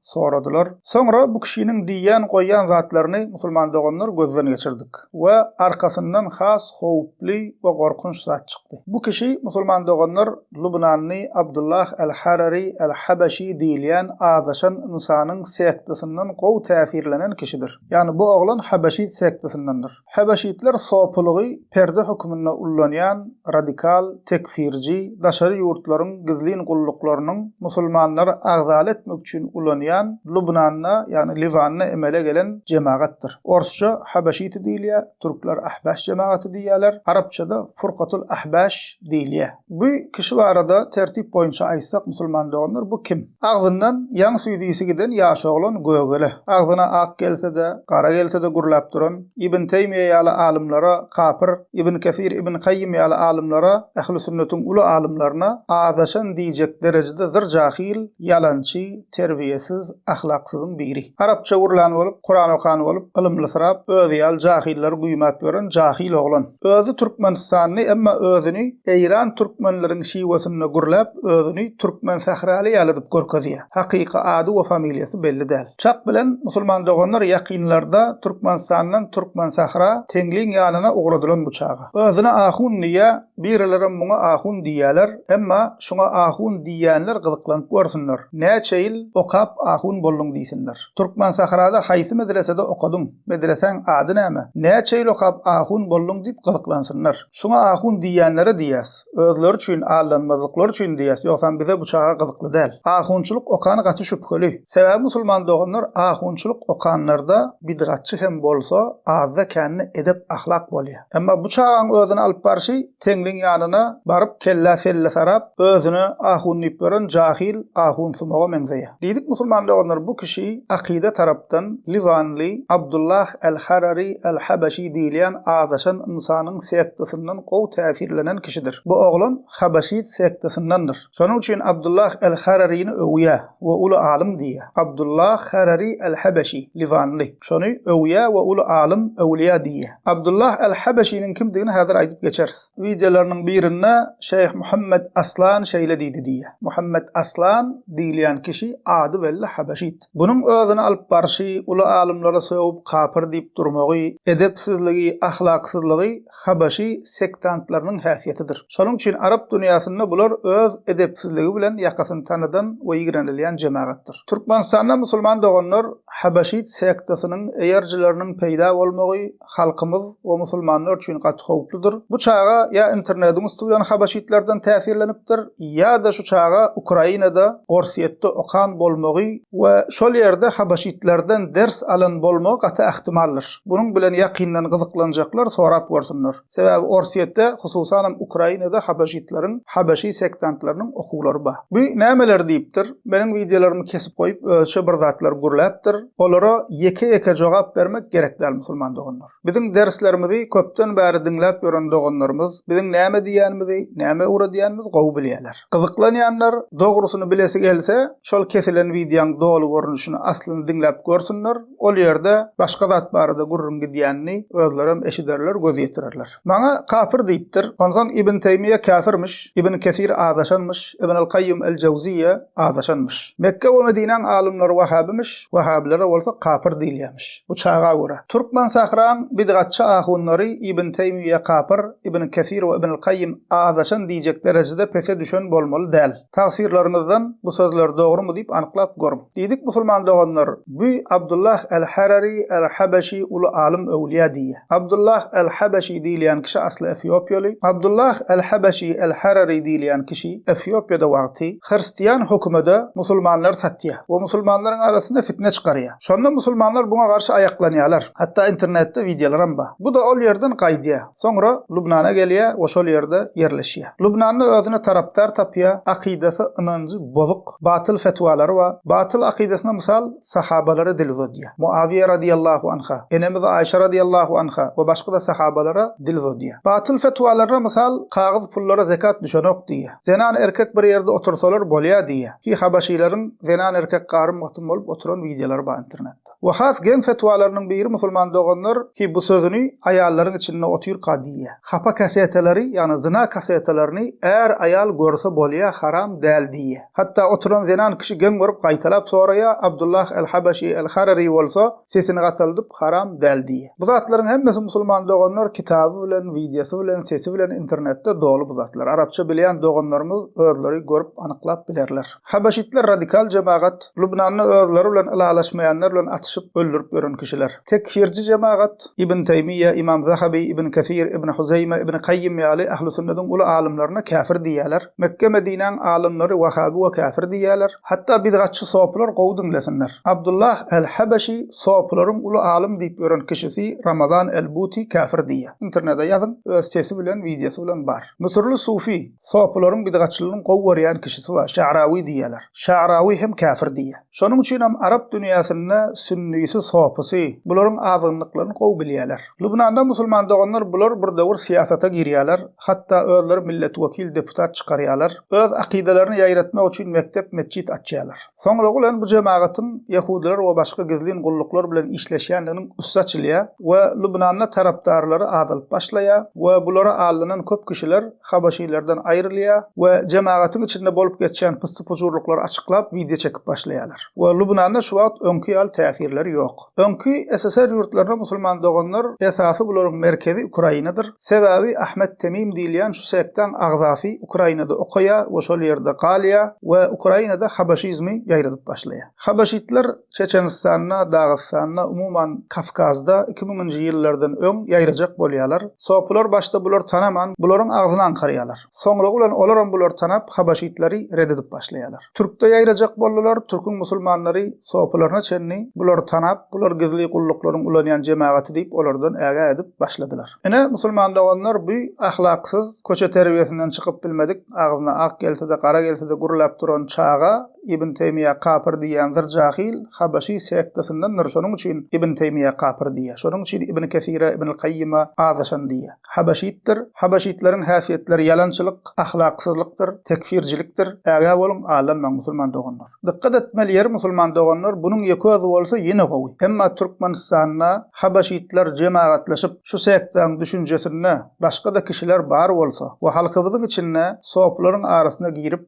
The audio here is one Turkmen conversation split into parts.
soradylar. Soňra bu kişiniň diýýän-goýýan zatlaryny musulman doganlar gözden geçirdik we arkasyndan has howply we gorkunç zat çykdy. Bu kişi musulman doganlar lubnanly Abdullah al-Harari al-Habaşi diýilýän azaşan ynsanyň sektasinden gowy täsirlenen kişidir. Ýagny bu oglan habaşit sektasyndandyr. Habeşitler sopulygy perde hökmünde ullanýan radikal, tekfirji, daşary ýurtlaryň gizlin gulluklarynyň musulmanlary agzaly etmek üçin ulanýan Lubnanda, ýagny Liwanda emele gelen jemagatdyr. Orsça Habeşiti diýilýär, türkler Ahbaş jemagaty diýýärler, arapçada Furkatul Ahbaş diýilýär. Bu kişi barada tertip boýunça aýtsak musulman doganlar bu kim? Agzyndan ýaň süýdüsi giden ýaş oglan gögele, agzyna ak gelse-de, gara gelse-de gürläp duran, Ibn Teýmiýe ýaly alymlara kapyr, Ibn Kesir, Ibn Kaýym ýaly alymlara, ähli sünnetiň uly alymlaryna azaşan diýjek derejede zyr jahyl, ýalançy, terbiýesiz, ahlaksyzyň biri. Arapça gürlän bolup, Kuran okan bolup, ylymlysyrap, özi ýaly jahyllar güýmäp ýören jahyl oglan. Özi türkmenistanly, emma özüni eýran türkmenleriň şiwesinde gürläp, özüni türkmen sähraly ýalydyp görkezýär. Hakyky ady we familiýasy belli däl. Çak bilen musulman doganlar ýakynlarda Türkmenistandan Türkmensähra Teňliň ýanyna ugradylan bu çaga. Özüne ahun diýýär, birilerem muňa ahun diýýärler, emma şuňa ahun diýýänler gyzyklanyp görsünler, näçe ýyl okap ahun bolduň diýsinler. Türkmensährada haýsy medresede okadyň, medresäň ady näme, näçe ýyl okap ahun bolduň diýip gyzyklansynlar. Şuňa ahun diýýänlere diýýäs. Özleri üçin, aldanmazlyklary üçin diýýäs, ýogsam bize bu çaga gyzykly däl. Ahunçylyk okany gaty şübheli. Sebäbi musulman doganlar ahunçylyk okanlarda bidgatçy hem bolsa, azda-kände edep-ahlak bolýa. Emma bu çagaň özüni alyp barşy Teňriň ýanyna baryp kellä-selle sarap, özüne ahun diýip ýören jahil ahunsumaga meňzeýä. Diýdik musulman doganlar bu kişi akyda tarapdan liwanly Abdullah al-Harari al-Habaşi diýilýän azaşan ynsanyň sektasyndan gowy täsirlenen kişidir. Bu oglan habaşit sektasyndandyr. Şonuň üçin Abdullah al-Hararini öwýä we uly alym diýýä. Abdullah Harari al-Habaşi, liwanly. Şony öwýä we uly alym, öwlýa diýýä. Abdullah al-Habaşiniň kimdigini häzir aýdyp geçeris. Wideolarynyň birinde Şeýh Muhammet Aslan şeýle diýdi diýýä. Muhammet Aslan diýilýän kişi ady belli habeşit. Bunuň özüni alyp barşy, uly alymlary sögüp kapyr diýip durmagy, edepsizligi, ahlaksyzlygy habeşi sektantlarynyň häsiýetidir. Şonuň üçin arap dünýäsinde bular öz edepsizligi bilen ýakasyny tanadan we ýigrenilýän jemagatdyr. Türkmenistanda musulman doganlar habeşit sektasynyň eýerjileriniň peýda bolmagy halkymyz we musulmanlar üçin gaty howpludyr. Bu çaga ýa internediň üsti bilen habaşitlerden täsirlenipdir, ýa-da şu çaga Ukrainada, Orsýetde okan bolmagy we şol ýerde habaşitlerden ders alan bolmagy gaty ähtimaldyr. Bunuň bilen ýakyndan gyzyklanjaklar sorap görsünler. Sebäbi Orsýetde, hususanam Ukrainada habaşitleriň, habaşi sektantlarynyň okuwlary bar. Bu nämeler diýipdir? Meniň wideolarymy kesip goýup, özüçe bir zatlar gürläpdir. Olara ýeke-ýeke jogap bermek gerek däl musulman doganlar. Biziň derslerimizi köpden bäri diňläp ýören doganlarymyz biziň näme diýýänimizi, nämä ugradýanymyzy gowy bilýärler. Gyzyklanýanlar dogrusyny bilesi gelse, şol kesilen wideoň doly görnüşini aslyny diňläp görsünler, ol ýerde başga zat barada gürrüň gidýänini özlerem eşiderler, göz ýetirerler. Maňa kapyr diýipdir. Onsoň Ibn Teýmiýe käfirmiş, Ibn Kesir azaşanmyş, Ibn al-Kaýýum el-Jawzyýýe azaşanmyş. Mekge we Medinäň alymlary wahhabymiş, wahhabilere bolsa kapyr diýilýämiş. Bu çaga görä. Türkmensähraň bidgatçy ahunlary Ibn Teýmiýe kapyr, Ibn Kesir we Ibn al-Kaýýum azaşan diýjek derejede pese düşen bolmaly däl. Tafsirleriňizden bu sözler dogrymy diýip anyklap görüň. Diýdik musulman doganlar bü Abdullah el Harari el Habeşi uly alym öwlýa diýýä. Abdullah el Habeşi diýilýän kişi asly efiopiýaly. Abdullah el Habeşi el Harari diýilýän kişi efiopiýada wagty hyrstiýan hökümede musulmanlar satýa we musulmanlaryň arasynda fitne çykarýa. Şonda musulmanlar buňa garşy aýaklanýalar. Hatda internetde wideolaram ba. Bu da ol ýerden gaýdýa. Soňra Lubnana gelýär we şol ýerde ýerleşýär. Lubnanda özüne tarapdar tapýar, akydasy, ynanjy bozuk, batyl fetwalary bar. Batyl akydasyna mysal sahabalara dil uzadýar. Muawiýa radyýallahu anha, enemiz Aýşa radyýallahu anha we başga-da sahabalara dil uzadýar. Batyl fetwalaryna mysal kagyz pullara zekat düşenok diýýär. Zenan erkek bir ýerde otursalar bolýar diýýär. Ki habaşylaryň zenan erkek garym-gatym bolup oturan wideolary bar internetde. We has geň fetwalarynyň biri musulman doganlar ki bu sözüni aýallaryň içinde otyrka diýýä. Hapa kasetalary ýagny zyna kasetalaryny är aýal görse bolýa haram däl diýýä. Hatda oturan zenan kişi geň görüp gaýtalap soraýa Abdullah el Habaşi el Harari bolsa sesini gataldyp haram däl diýýä. Bu zatlaryň hemmesi musulman doganlar kitaby bilen wideosy bilen sesi bilen internetde doly bu zatlar arapça bilýän doganlarymyz özleri görüp anyklap bilerler. Habaşitler radikal jemagat, Lubnanda özleri bilen ylalaşmaýanlar bilen atyşyp, öldürip ýören kişiler. Tekfirçi jemagat, Ibn Teýmiýýe, Ymam Zahabi, Ibn Kesir, Ibn Huzeýme, Ibn Kaýýym ýaly ählisünnediň uly alymlaryna käfir diýýäler. Mekge-Medinäň alymlary wahabi we käfir diýýäler. Hatda bidgatçy sopylar gowy diňlesinler. Abdullah el-Habaşi sopylaryň uly alym diýip ýören kişisi Ramazan el-Buti käfir diýýär. Internede ýazyň, öz sesi bilen, wideosy bilen bar. Müsürli sufi, Sofylaryň bidgatçylygyny gowy görýän kişisi bar, Şe'rawi diýýärler. Şe'rawi hem käfir diýýär. Şonuň üçin hem arap dünýäsinde sünnisi, sofysy, bularyň azgynlyklaryny gowy bilýärler. Lubnanda musulman doganlar bular bir döwür syýasata girýärler, hatda özleri millet wekil, deputat çykarýarlar. Öz akydalaryny ýaýratmak üçin mekdep, metjit açýarlar. Soňra bolan bu jemagatyň ýehudylar we başga gizlin gulluklar bilen işleşýändiginiň üsti açylýar we Lubnanda tarapdarlary azalyp başlaýar we bulara aldanan köp kişiler habaşylardan aýrylýar we jemagatyň içinde bolup geçýän pyssy-pujurlyklary açyklap wideo çekip başlaýarlar we Lubnanda şu wagt öňki ýaly täsirleri ýok. Öňki SSR ýurtlaryna musulman doganlar esasy bularyň merkezi Ukrainadyr, sebäbi Ahmet Temim diýilýän şu sektaň agzasy Ukrainada okaýar we şol ýerde galýar we Ukrainada habaşizmi ýaýradyp başlaýar. Habaşitler Çeçenistanda, Dagystanda, umuman, Kawkazda iki müňünji ýyllardan öň ýaýrajak bolýarlar. Sopular başda bulary tanaman, bularyň agzyny aňkarýarlar. Soňra ulan olaram bulary tanap, habaşitlary ret edip başlaýarlar. Türkde ýaýrajak boldular, türküň musulmanlary sopularyna çenli bulary tanap, bular gizli gulluklaryň ulanýan jemagaty diýip olardan ägä edip başladylar. Ine, musulman doganlar bu ahlaksyz, köçe terbiýesinden çykyp bilmedik, agzyna ak gelse-de, gara gelse-de gürläp duran çaga Ibn Teýmiýä kapyr diýýän zyr jahyl habaşy sektasyndandr şonuň üçin Ibn Teýmiýä kapyr diýýä şonuň üçin Ibn Kesire Ibnul Kaýýyma azaşan diýýä habaşytdyr habaşytlaryň häsiýetleri ýalançylyk ahlaksyzlykdyr tekfircilikdir ägä boluň aldanmaň musulman doganlar dykgat etmeli ýeri musulman doganlar bunuň ýeközi bolsa ýene gowy emma Türkmenistanda habaşytlar jemagatlaşyp şu sektaň düşünjesinde başgada kişiler bar bolsa we halkymyzyň içinde sopularyň arasyna girip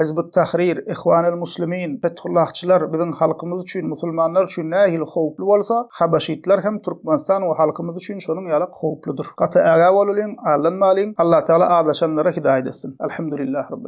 Hizb ut-Tahrir, Ihwan al-Muslimin, Fethullahçylar biziň halkymyz üçin, musulmanlar üçin nähili howply bolsa, habaşytlar hem Türkmenistan we halkymyz üçin şonuň ýalak howpludyr. Gaty ägä bolulyň, allanmalyň. Allatagala azaşanlara hidaýat etsin. Elhamdulillah Rabbil.